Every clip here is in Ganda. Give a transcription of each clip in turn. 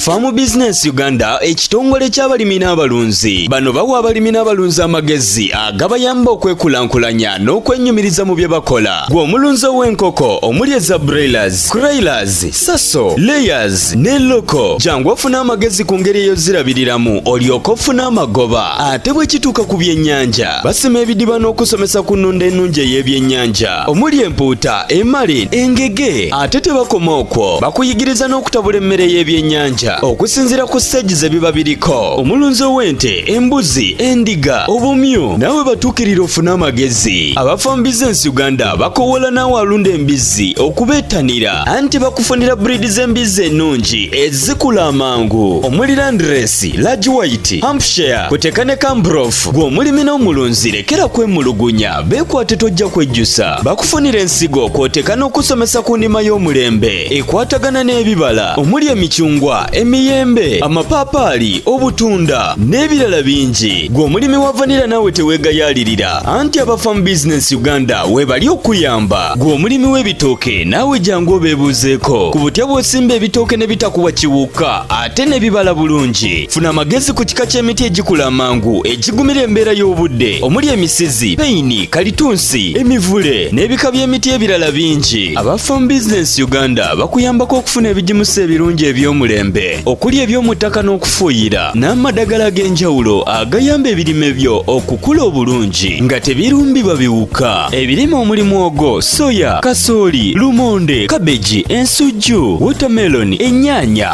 Farm Business Uganda ekitongole ky'abalimi n'abalunzi bano bawa abalimi n'abalunzi amagezi agabayamba okwekulaakulanya n'okwenyumiriza mu bye bakola gwe omulunzi ow'enkoko omuli eza broilers, croilers, saso, layers ne loko jangu ofuna amagezi ku ngeri eyozirabiriramu olyoka ofuna amagoba ate bwe kituuka ku byennyanja basima ebidiba n'okusomesa ku nnunda ennungi ey'ebyennyanja omuli empuuta emali engege ate tebakoma okwo bakuyigiriza n'okutabula emmere y'ebyennyanja okusinziira ku siteegi ze biba biriko omulunzi ow'ente embuzi endiga obumyu naawe batuukirira ofune amagezi abafa mu bizinensi uganda bakowoola naawe alunda embizzi okubeettanira anti bakufunira buriidi z'embizzi ennungi ezikula amangu omuli landiresi lagi wayiti hampshire kuteka ne kambrof gw'omulimi n'omulunzi lekera kwemulugunya Beekwate tojja kwejjusa bakufunira ensigo kw'oteeka n'okusomesa ku ndima y'omulembe ekwatagana n'ebibala omuli emicungwa emiyembe amapaapaali obutunda n'ebirala bingi gwe omulimi wa vanira naawe teweegayaalirira anti abafamu bizinensi uganda weebali okuyamba gwe omulimi w'ebitooke naawe jangu obeebuuzeeko ku butya bw'osimba ebitooke ne bitakuwa kiwuka ate ne bibala bulungi funa amagezi ku kika ky'emiti egikula amangu egigumira embeera y'obudde omuli emisizi peyini kalitunsi emivule n'ebika by'emiti ebirala bingi aba farm business uganda bakuyambako okufuna ebigimusa ebirungi eby'omulembe okuli eby'omu ttaka n'okufuuyira n'amadagala ag'enjawulo agayamba ebirime byo okukula obulungi nga tebirumbibwa biwuka ebirime omuli mwogo soya kasooli lumonde kabeji ensujju wotameloni ennyaanya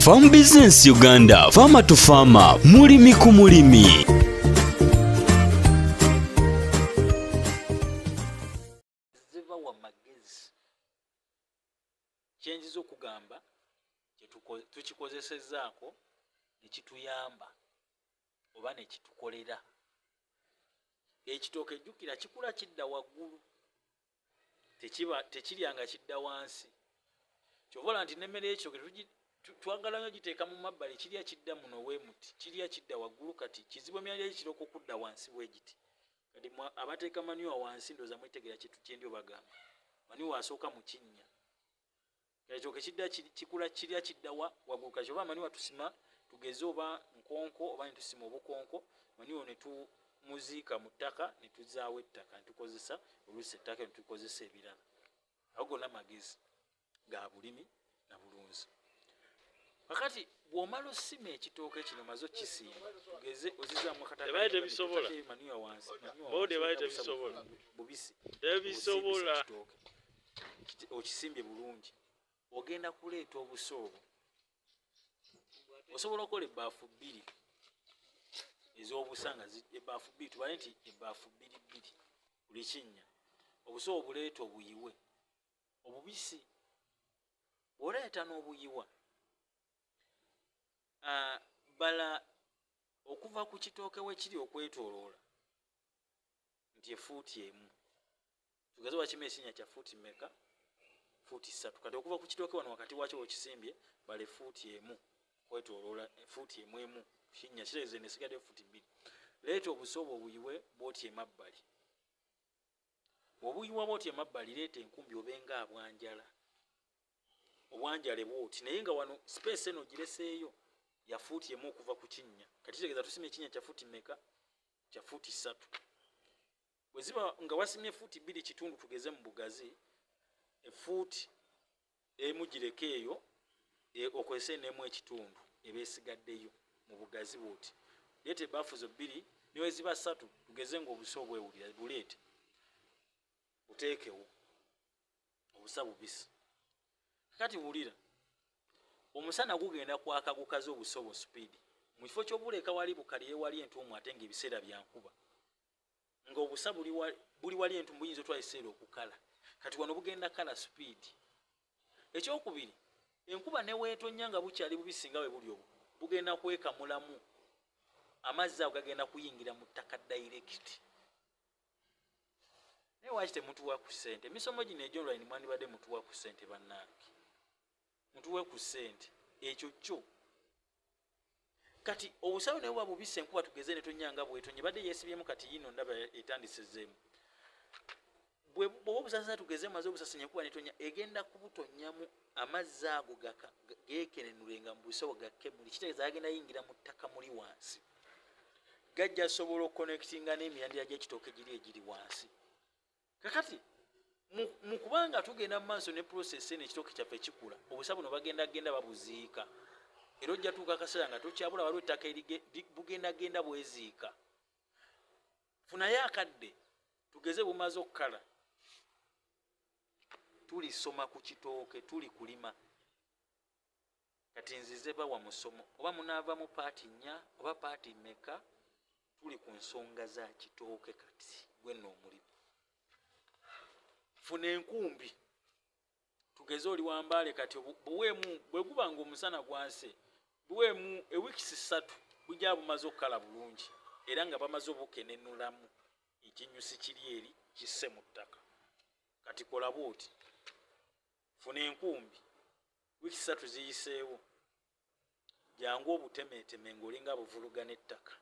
Farm Business Uganda, Farmer to Farmer, mulimi ku mulimi. kyenjiza okugamba tukikozesezaako nekituyamba oba nekitukolera ekitooke jjukira kikula kidda waggulu tekiba tekirya nga kidda wansi kyobola nti nemmere ekyo twagala nyo giteeka mu mabbali kirya kidda muno wemuti kirya kidda waggulu kati kizibu emyalya gikira okukudda wansi bwegiti kati abateeka maniwa wansi ndoza mwetegera kintu kyendi obagamba maniwa asooka mu kinnya ekyo kekidda kikula kirya kiddawa waggulu kati oba amanyi watusima tugeze oba nkonko oba netusima obukonko manyiwo netumuziika mu ttaka netuzaawo ettaka netukozesa oluusi ettaka netukozesa ebirala ago gonna magezi ga bulimi na bulunzi kakati bwomala osima ekitooke kino maze okisimba tugeze ozizaamu akatamanyiwa wansi bubisi tebisobola okisimbye bulungi ogenda kuleeta obusa obwo osobola okukola ebbaafu bbiri ez'obusa nga ebbaafu bbiri tubale nti ebbaafu bbiri bbiri buli kinnya obusa obuleeta obuyiwe obubisi bwoleeta n'obuyiwa ah, bala okuva ku kitooke wekiri okwetoloola nti efuuti emu tugeze wakima ekinya kya fuuti meka fuuti ssatu kati okuva ku kitooke wano wakati wakyo wekisimbye bale fuuti emu kwetoloola eh, fuuti emu emu kinya kireze nesigadde fuuti bbiri leeta obusoobo obuyiwe bwoti emabbali obuyiwa bwoti emabbali leeta enkumbi obenga abwanjala obwanjale bwoti naye nga wano sipeesi eno gireseeyo ya fuuti emu okuva ku kinnya kati kitegeza tusima ekinnya kya fuuti meka kya fuuti ssatu bwe ziba nga wasimye fuuti bbiri kitundu tugeze mu bugazi efuuti emu gireka eyo e, okozese nemu ekitundu eba esigaddeyo mu bugazi bwoti leeta ebaafu zo bbiri neweziba ssatu tugeze nga obusa obwewulira buleete buteekewo obusa bubisi kati wulira omusana gugenda kwaka gukaze obusa obwo supiidi mu kifo kyobuleka wali bukaliye wali entuumu ate nga ebiseera byankuba nga obusa buli wali entumu buyinza otwala ekiseera okukala kati wano bugenda kala sipiidi ekyokubiri enkuba neweetonya nga bukyali bubisi nga we buli obwo bugenda kwekamulamu amazzi ago gagenda kuyingira mu ttaka dayirekiti naye waki temutuwa ku sente emisomo gino egyonline mwandibadde mutuwa ku sente bannange mutuwe ku sente ekyo kyo kati obusawe naye bwabubisa enkuba tugeze netonyanga bwetonye badde yesibyemu kati yino ndaba etandisezemu bwoba obusasasa tugeze maze obusasanya enkuba netonya egenda kubutonyamu amazzi ago gekenenule nga mubusawo gakemuli kitegeeza agenda yingira mu ttaka muli wansi gajja sobola okukonectinga n'emirandira gy'ekitooke giri egiri wansi kakati mu kuba nga tugenda mu maaso ne prosesi eno ekitooke kyaffe kikula obusa buno bagenda genda babuziika era ojja tuuka akaseera nga tokyabula waliwo ettaka bugenda genda bweziika funayo akadde tugeze bumaze okukala tulisoma ku kitooke tuli kulima Kati nzize bawa musomo oba munavamu paati nya oba paati meka tuli ku nsonga za kitooke kati gwenna omulimu funa enkumbi tugeze oli wambaale kati buweemu bwe guba nga omusana gwanse buweemu ewikisi ssatu bujja bumaze okukala bulungi era nga bamaze obukenenulamu ekinyusi kiri eri kisse mu ttaka kati kolaba oti funa enkumbi wiiki satu ziyiseewo jangu obutemeeteme ngaolinga buvuluga n'ettaka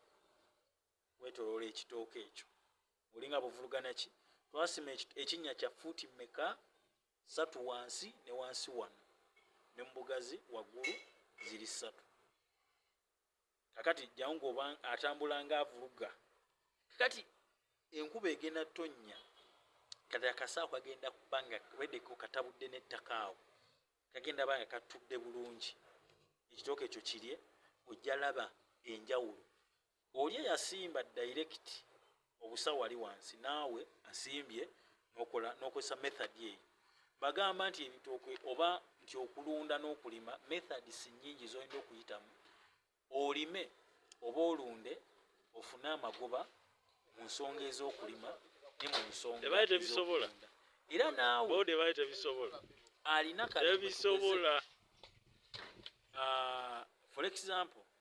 wetoloola ekitooka ekyo olinga buvulugana ki twasima ekinnya kya fuuti meka satu wansi ne wansi wano ne mubugazi waggulu ziri satu kakati jjawo ngaoba atambula nga avuluga kakati enkuba egenda tonnya kati akasaako kagenda kuba nga wedeko katabudde n'ettaka awo kagenda ba nga katudde bulungi ekitooka ekyo kirye ojja laba enjawulo oli eyasimba direct obusa wali wansi naawe asimbye nokola nokozesa method eyo bagamba nti ebitooke oba nti okulunda n'okulima methods nyingi zolina okuyitamu olime oba olunde ofune amagoba mu nsonga ez'okulima ne mu nsonga era naawe alina kalibisobola ah, for example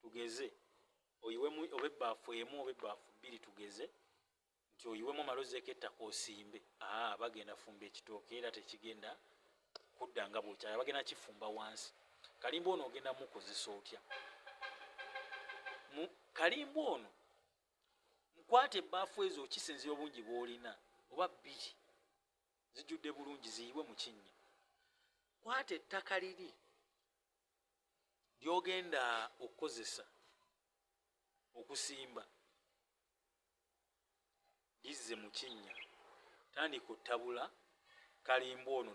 tugeze oyiwemu oba ebbaafu emu oba ebbaafu bbiri tugeze nti oyiwemu omala ozeeko ettaka osimbe aa bagenda fumba ekitooke era tekigenda kudda nga bwokyala bagenda kifumba wansi kalimba ono ogenda mukozesa otya kalimba ono mukwata ebbaafu ezo okisinzira obungi bwolina oba bbiri zijjudde bulungi ziyiwe mu kinnya kwata ettaka liri lyogenda okukozesa okusimba lizze mu kinnya tandika otabula kalimba ono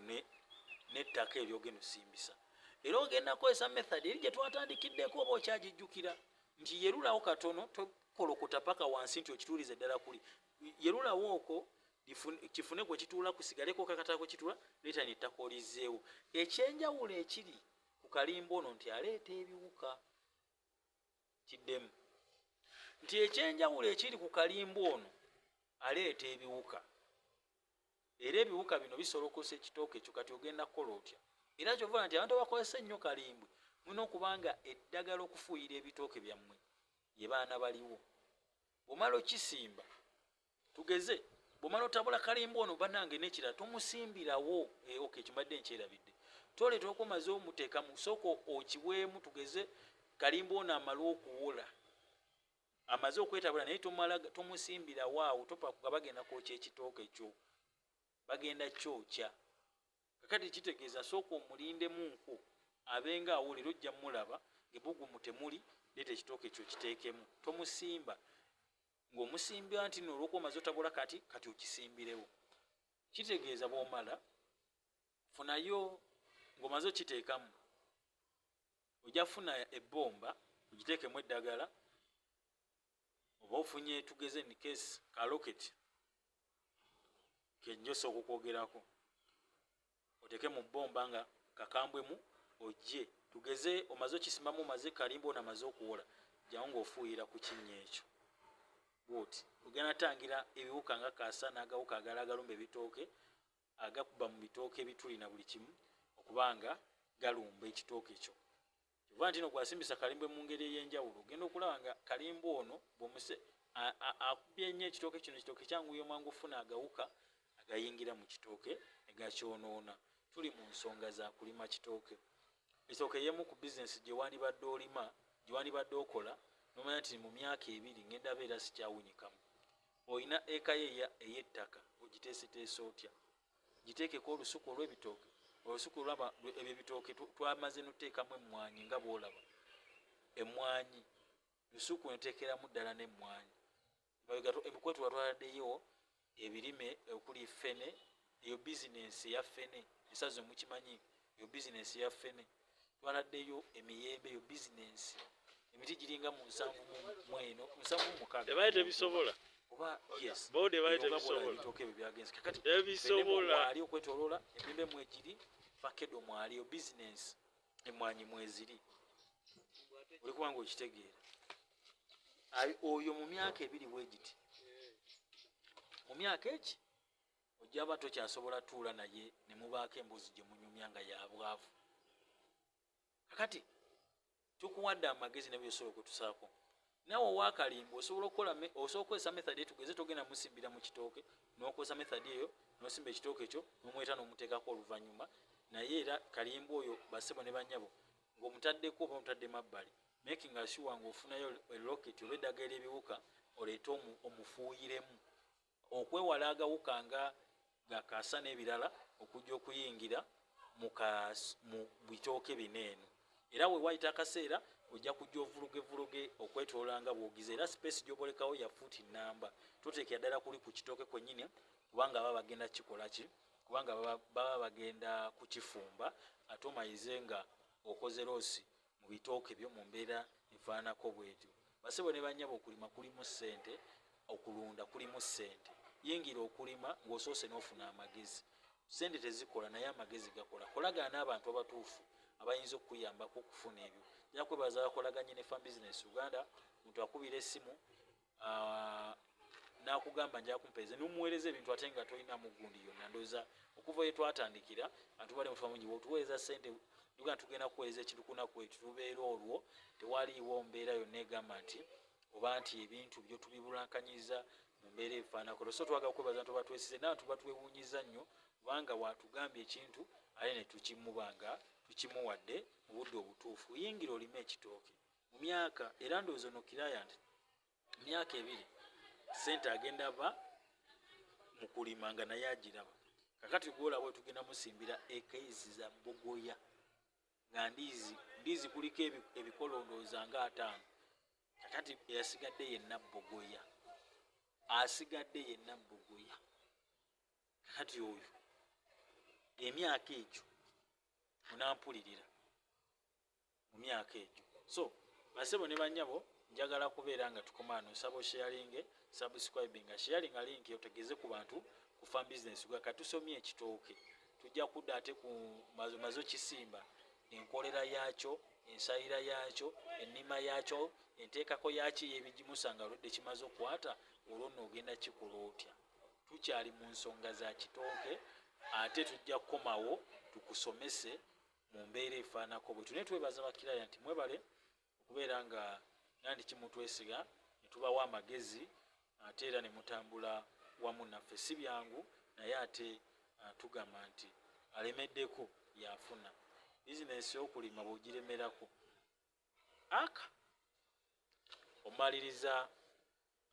n'ettaka eryogenda osimbisa era ogenda kukozesa method eri gye twatandikiddeko oba okyagijjukira nti yerulawo katono tokolokota paka wansi nti okituulize ddala kuli yerulawo okwo kifune kwe kituula kusigaleko kakatala kwe kituula leeta nettaka olizzeewo ekyenjawulo ekiri ku kalimba ono nti aleeta ebiwuka kiddemu nti ekyenjawulo ekiri ku kalimba ono aleeta ebiwuka era ebiwuka bino bisolokosa ekitooka ekyo kati ogenda kukola otya era kyovala nti abantu abakozesa ennyo kalimbwe mulina okubanga eddagala okufuuyira ebitooke byammwe ye baana baliwo bwomala okisimba tugeze bwomala otabula kalimba ono banange nekira tomusimbirawo eh, ok kimadde nkyerabidde toleta okomaze omuteeka mu soko okiweemu tugeze kalimba ono amale okuwola amaze okwetabula naye tomusimbirawo awo topakuga bagenda kwokya ekitooke kyo bagenda kyokya kakati kitegeeza sooka omulindemu nku abenga awulira ojja mulaba ngebugumu temuli leeta ekitooke kyo kiteekemu tomusimba ng'omusimbira nti no olwokuba omaze otabula kati kati okisimbirewo kitegeeza bwomala funayo ng'omaze okiteekamu ojja funa ebbomba ogiteekemu eddagala oba ofunye tugeze nikesi kaloketi kenjosa okukwogerako oteke mu bomba nga kakambwe mu ojje tugeze omaze okisimamu omaze kalimba ona maze okuwola jawo ngaofuuyira ku kinnya ekyo bwoti ogenda tangira ebiwuka nga kasa n'agawuka agala agalumba ebitooke agakuba mu bitooke ebituli na buli kimu okuba nga galumba ekitooke kyo Kyova ntino gwasimbisa kalimba emungeri eyenjawulo ogenda okulaba nga kalimba ono bwomuse akubye nnyo ekitooke kino ekitooke kyanguyo mwangu ofuna agawuka agayingira mu kitooke negakyonoona tuli mu nsonga za kulima kitooke esooka eyemu ku bizinesi gyewandibadde olima gyewandibadde okola nomanya nti mu myaka ebiri ngenda beera sikyawunyikamu olina ekayo eyettaka ogiteeseteesa otya giteekeko olusuku olw'ebitooke olusuku olwaba ebyo ebitooke twamaze noteekamu emmwanyi nga bwolaba emmwanyi lusuku enteekeramu ddala n'emmwanyi emikwetu watwaladeyo ebirime okuli fene eyo bizinensi eya fene esazi omukimanyi eyo bizinensi eya fene twanaddeyo emiyembe eyo bizinensi emiti giringa mu nsanvu mweno nsanvu mukaaga tebisobola obaebisobolaali okwetoloola emimbe mwegiri fakedo mwaliyo bizinensi emwanyi mweziri oli kubanga okitegeera oyo mu myaka ebiri wegiti mu myaka eki ojaba tokyasobola tuula naye nemubaako emboozi gye munyumya nga yabwavu kakati tukuwadde amagezi nebyosobola okutusaako nawe owakalimba osobola okukola osobola okukozesa method etugeze togenda musimbira mu kitooke nokozesa method eyo nosimba ekitooke ekyo nomweta nomuteekako oluvannyuma naye era kalimba oyo basebo ne banyabo ngaomutaddeko oba omutadde mabbali making asure ngaofunayo eloket oba eddaga eryebiwuka oleete omufuuyiremu okwewala agawuka nga gakaasa n'ebirala okujja okuyingira mu bitooke bino eno era we wayita akaseera ojja kujja ovuluge vuluge okwetolola nga bwogiza era sipeesi gyobolekawo ya fuuti nnamba toteekera ddala kuli ku kitooke kwennyini kubanga baba bagenda kikola ki kubanga baba bagenda kukifumba ate omayize nga okoze loosi mu bitooke byo mu mbeera efaanako bwetyo basebo ne banyaba okulima kulimu ssente okulunda kulimu ssente yingira okulima ng'osoose n'ofuna amagezi ssente tezikola naye amagezi gakola kolagana n'abantu abatuufu abayinza okukuyambako okufuna ebyo ja kwebaza bakolaganye ne fam business uganda muntu akubira essimu ah, nakugamba nja kumpeeze nomuweereza ebintu ate nga tolina mugundi yonna ndooza okuva ye twatandikira atubadde mutuba mungi wotuweereza sente tuga tugenda kuweereza ekintu kunaku ekyo tubeera olwo tewaliiwo mbeera yonna egamba nti oba nti ebintu byo tubibulankanyiriza mu mbeera efaanakolo so twagala kwebaza nti obatwesize nawe tuba twewunyiza nnyo kubanga watugambye ekintu aye ne tukimuba nga tukimuwadde mu budde obutuufu yingira olime ekitooke mu myaka era ndowooza ono client mu myaka ebiri sente agenda va mu kulima nga naye agiraba kakati gwolaba wetugenda musimbira ekaizi za bogoya nga ndiizi ndiizi kuliko ebikolondooza nga ataano kakati eyasigadde yenna bogoya asigadde yenna bogoya kakati oyo emyaka egyo onampulirira mu myaka egyo so basebo ne banyabo njagala kubeera nga tukomaano sabo sharinge subscribe nga sharing alink yo tegeze ku bantu ku farm business gwa katusomye ekitooke tujja kudda ate ku mazo mazo kisimba enkolera yaakyo ensayira yaakyo ennima yaakyo enteekako yaakyo eyebigimusa nga oludde kimaze okukwata olwo nno ogenda kikola otya tukyali mu nsonga za kitooke ate tujja kukomawo tukusomese mu mbeera efaanako bwetyo naye twebaza bakiraya nti mwebale okubeera nga nandi kimutwesiga netubawo amagezi ate era nemutambula wamu naffe si byangu naye ate ah, tugamba nti alemeddeko yafuna bizinesi yokulima bwegiremerako aka omaliriza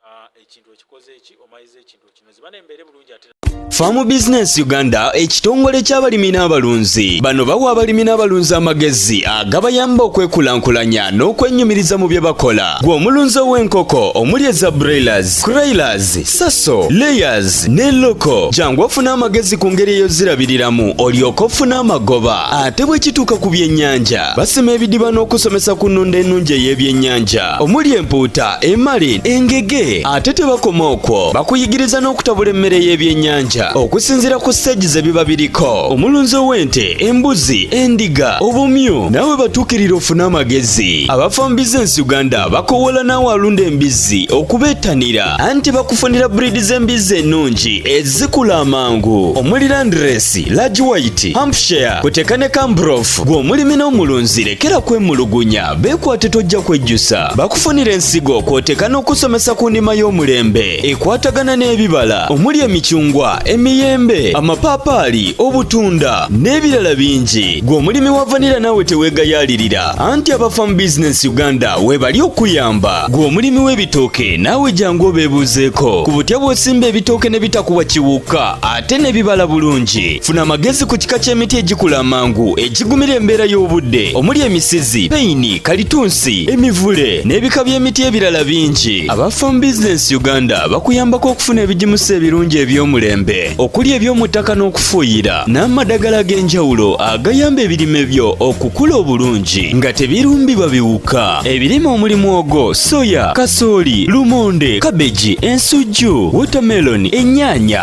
ah, ekintu ekikoze eki omaliriza ekintu ekinozi bana embeere bulungi ate Farm Business Uganda ekitongole ky'abalimi n'abalunzi bano bawa abalimi n'abalunzi amagezi agabayamba okwekulaakulanya n'okwennyumiriza mu bye bakola gwe omulunzi ow'enkoko omuli eza broilers croilers saso layers ne loko jangu ofune amagezi ku ngeri eyozirabiriramu olyoka ofuna amagoba ate bwe kituuka ku byennyanja Basima ebidiba n'okusomesa ku nnunda ennungi ey'ebyennyanja omuli empuuta, emali, engege. Ate tebakoma okwo, bakuyigiriza n'okutabula emmere y'ebyennyanja okusinziira ku siteegi ze biba biriko. Omulunzi ow'ente, embuzi, endiga, obumyu naawe batuukirira ofune amagezi. Abafambiza ensi Uganda bakowoola naawe alunda embizzi okubeettanira anti bakufunira buriidi z'embizzi ennungi ezikula amangu omuli landiresi, large white, hampshire, kuteka ne cambrof. bw'obukakafu. Gwe omulimi n'omulunzi lekera kwemulugunya, beekwate tojja kwejjusa. Bakufunira ensigo kw'oteeka n'okusomesa ku nnima y'omulembe ekwatagana n'ebibala omuli emicungwa, emiyembe, amapaapaali, obutunda n'ebirala bingi. Gwe omulimi wa vanira naawe teweegayaalirira anti aba Farm Business Uganda weebali okuyamba. Gwe omulimi w'ebitooke naawe jangu obeebuuzeeko ku butya bw'osimba ebitooke ne bitakuwa kiwuka. ate n'ebibala bulungi funa amagezi ku kika ky'emiti egikula amangu egigumira embeera y'obudde omuli emisizi peyini kalitunsi emivule n'ebika by'emiti ebirala bingi aba farm business uganda bakuyambako okufuna ebigimusa ebirungi eby'omulembe okuli eby'omu ttaka n'okufuuyira n'amadagala ag'enjawulo agayamba ebirime byo okukula obulungi nga tebirumbibwa biwuka ebirime omuli mwogo soya kasooli lumonde kabeji ensujju wotameloni ennyaanya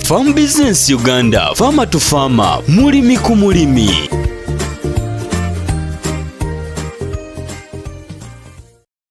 Farm Business Uganda, Farmer to Farmer, mulimi ku mulimi.